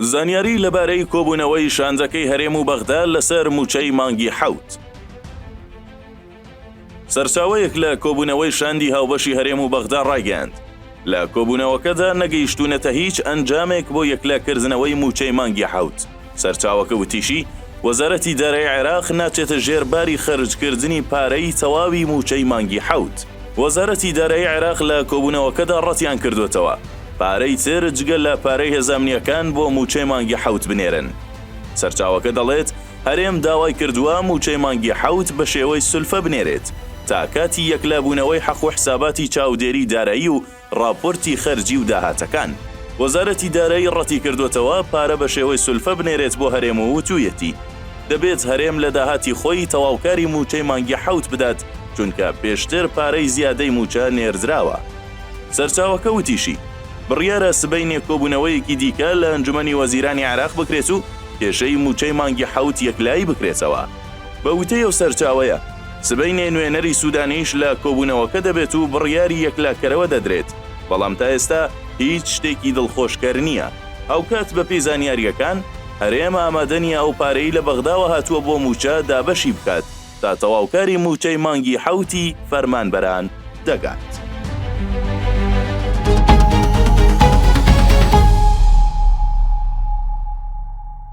زانیاریی لەبارەی کۆبوونەوەی شاندەکەی هەرێم و بەغدا لەسەر مووچەی مانگی حەوت. سەرچاوەیەک لە کۆبوونەوەی شاندی هاوبەشی هەرێم و بەغدا ڕایگەیاند، لە کۆبوونەوەکەدا نەگەیشتوونەتە هیچ ئەنجامێک بۆ یەکلاکردنەوەی مووچەی مانگی حەوت. سەرچاوەکە وتیشی، وەزارەتی دارایی عێراق ناچێتە ژێر باری خەرجکردنی پارەی تەواوی مووچەی مانگی حەوت. وەزارەتی دارایی عێراق لە کۆبوونەوەکەدا ڕەتیانکردووەتەوە پارەی تر جگە لە پارەی هێزە ئەمنییەکان بۆ مووچەی مانگی حەوت بنێرن. سەرچاوەکە دەڵێت، هەرێم داوای کردووە مووچەی مانگی حەوت بەشێوەی سولفە بنێرێت تا کاتی یەکلابوونەوەی حەق و حساباتی چاودێری دارایی و ڕاپۆرتی خەرجی و داهاتەکان، وەزارەتی دارایی ڕەتیکردووەتەوە پارە بە شێوەی سولفە بنێرێت بۆ هەرێم و وتوویەتی، دەبێت هەرێم لە داهاتی خۆی تەواوکاری مووچەی مانگی حەوت بدات، چونکە پێشتر پارەی زیادەی مووچە نێردراوە. سەرچاوەکە وتیشی، بڕیارە سبەینێ کۆبوونەوەیەکی دیکە لە ئەنجومەنی وەزیرانی عێراق بکرێت و کێشەی مووچەی مانگی حەوت یەکلایی بکرێتەوە. بە وتەی ئەو سەرچاوەیە، سبەینێ نوێنەری سوودانیش لە کۆبوونەوەکە دەبێت و بڕیاری یەکلاکەرەوە دەدرێت، بەڵام تا ئێستا هیچ شتێکی دڵخۆشکەر نییە. هاوکات بەپێی زانیارییەکان، هەرێم ئامادە نییە ئەو پارەی لە بەغداوە هاتووە بۆ مووچە دابەشی بکات تا تەواوکاری مووچەی مانگی حەوتی فەرمانبەران دەگات.